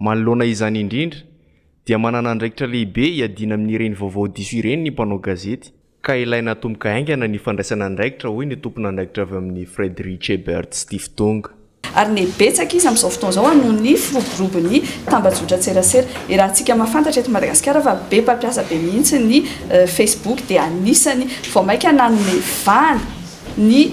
Manoloana izany indrindra, dia manana andraikitra lehibe hiadiana amin'ireny vaovao diso ireny ny mpanao gazety, ka ilaina atomboka haingana ny fandraisana andraikitra, hoy ny tompon'andraikitra avy amin'ny Friedrich Ebert Stiftung. Ary ny betsaka izy amin'izao fotoana izao noho ny firoborobon'ny tambajotran-tserasera. Iarahantsika mahafantatra eto Madagasikara fa be mpampiasa be mihitsy ny Facebook dia anisan'ny vao mainka nanome vahana ny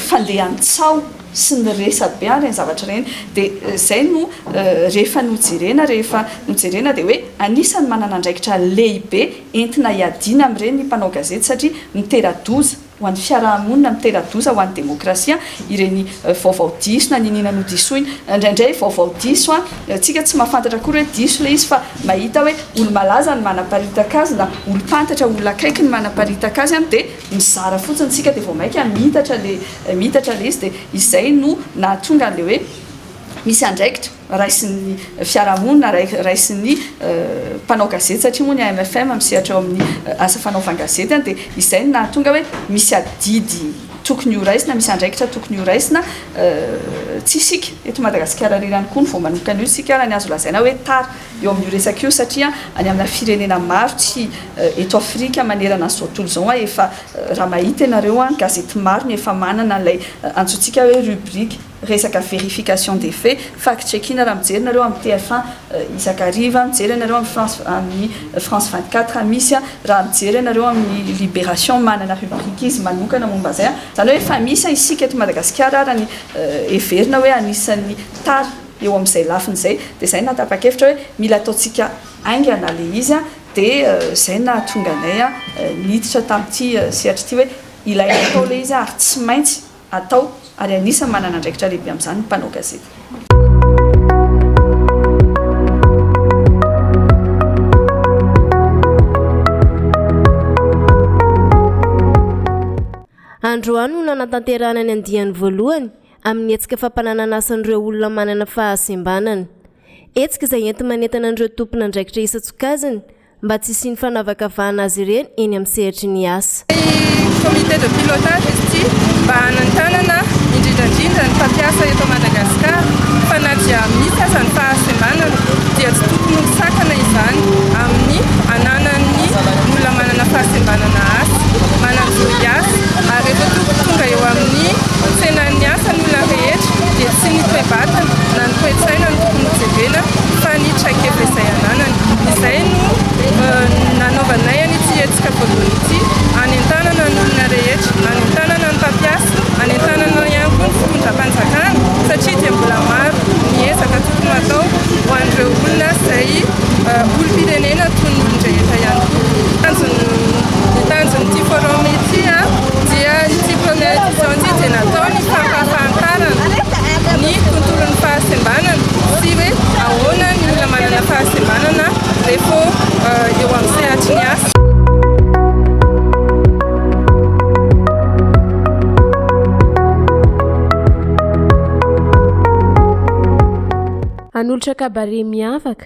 fandehan-tsaho. sy ny resabe ary ireny zavatra ireny dia izay no rehefa nojerena rehefa nojerena dia hoe anisan'ny manana andraikitra lehibe entina hiadiana amin'ireny ny mpanao gazety satria mitera-doza ho an'ny fiaraha-monina mitera-doza ho an'ny demokrasia ireny vaovao diso na niniana nodisoina indraindray vaovao diso an! tsika tsy mahafantatra akory hoe diso ilay izy fa mahita hoe olo-malaza no manaparitaka azy na olo-pantatra olona akaiky no manaparitaka azy an! dia mizara fotsiny tsika de vao maika miitatra le miitatra le izy de izay no nahatonga anle hoe misy andraikitra raisin'ny fiarahamonina raisin'ny mpanao gazety satria moa ny AMFM misehatra ao amin'ny asa fanaovan-gazety an de izay no nahatonga hoe misy adidy tokony ho raisina misy andraikitra tokony ho raisina tsy isika eto Madagasikara irery ihany koa no vao manomkana io sika raha ny azo lazaina hoe tara eo amin'io resaka io satria any amina firenena maro tsy eto Afrika manerana an'izao tontolo izao an, efa raha mahita ianareo an, gazety maro no efa manana an'ilay antsointsika hoe rubrique resaka verification des faits, fact checking, raha mijery nareo amin'ny TF un isak'ariva, mijery ianareo amin'ny France amin'ny France vingt quatre misy an, raha mijery ianareo amin'ny libération manana rubrique izy manokana momba izay an, izany hoe efa misy an, isika eto Madagasikara ara ny heverina hoe anisan'ny tara. Eo amin'izay lafiny izay dia izay nahatapa-kevitra hoe mila ataontsika haingana ilay izy dia izay nahatonga anay niditra tamin'ity sehatra ity hoe ilaina atao ilay izy ary tsy maintsy atao ary anisan'ny manana andraikitra lehibe amin'izany ny mpanao gazety. Androany no nanatanterahana ny andiany voalohany. amin'ny hetsika fampanananasan'ireo olona manana fahasembanana. Hetsika izay enti-manentana an'ireo tompon'andraikitra isan-tsokajiny mba tsy hisian'ny fanavakavahana azy ireny eny amin'ny sehatry ny asa. Ny comité de pilotage izy ity mba hanentanana indrindra indrindra ny mpampiasa eto Madagascar fa na dia misy aza ny fahasembanana dia tsy tokony ho sakana izany amin'ny ananan'ny olona manana fahasembanana asa, manan-jo hiasa ary rehefa tonga eo amin'ny Antsenain' ny asa ny olona rehetra, dia tsy ny toe-batana na ny toe-tsaina no tokony hojerena fa ny traikefa izay ananany. Izay no nanaovanay an' ity hetsika voalohany ity, hanentanana ny olona rehetra, hanentanana ny mpampiasa, hanentanana ihany koa ny fitondram-panjakana satria dia mbola maro ny ezaka tokony hatao ho an' ireo olona izay olom-pirenena toy ny olon-drehetra ihany koa. Ny tanjon' ity forum ity dia ny tsy fahampian' ny olona rehetra, ny tsy fahampian' ny mpampiasa, ny tsy fahampian' ny mpampiasa. Colonel Janjija dia natao ny hampahafantarana ny tontolon'ny fahasembanana sy hoe ahoana ny olona manana fahasembanana rehefa eo amin'ny sehatry ny asa. Hanolotra kabare miavaka,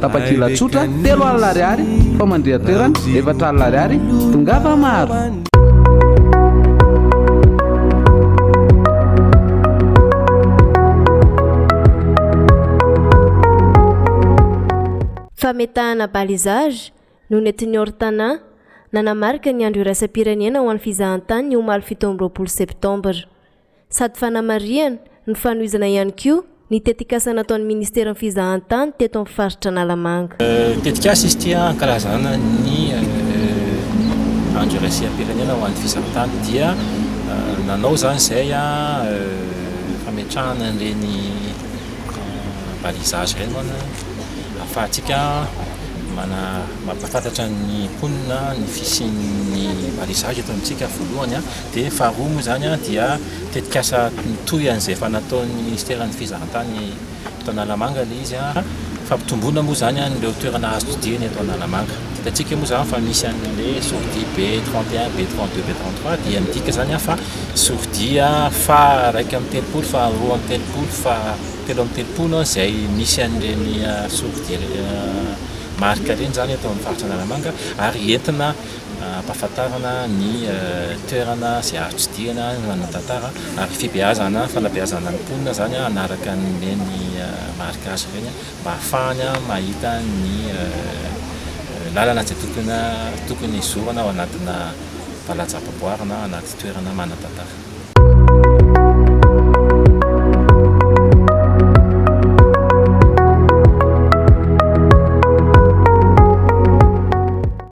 Tapakila tsotra, telo alina ariary, famandrihan-toerana, efatra alina ariary, tongava maro. Fametahana balisage, no nentin'ny Ortana, nanamarika ny Andro iraisam-pirenena ho an'ny fizahantany ny omaly fito amby roapolo septambra. sady fanamarihana ny fanohizana ihany koa ny tetikasa nataon'ny ministeran'ny fizahantany teto amin'ny faritra Analamanga. Tetikasa izy ity hankalazana ny andro iraisam-pirenena ho an'ny fizahantany dia nanao izany izay fametrahana an'ireny balisage ireny manana ahafahantsika mampahafantatra ny mponina ny fisian'ny balisage eto amintsika voalohany. Dia faharoa moa izany dia tetikasa mitohy an'izay efa nataon'ny Ministeran'ny Fizahan-tany eto Analamanga ilay izy. Fampitomboana moa izany an'ireo toerana azo tsidihina eto Analamanga. Hitantsika moa izany fa misy an'ilay sortie B 31, B 32, B 33 dia midika izany fa sortie faha iraika amby telopolo, faha roa amby telopolo, faha telo amby telopolo izay misy an'ireny sortie marika ireny izany eto amin'ny Faritra Analamanga ary entina ampahafantarana ny toerana izay azo tsidihana ny manan-tantara ary fibeazana fanabeazana ny mponina izany hanaraka an'ireny marika azy ireny mba hahafahany mahita ny lalana izay tokony hizorana ao anatina valan-javaboary na anaty toerana manan-tantara.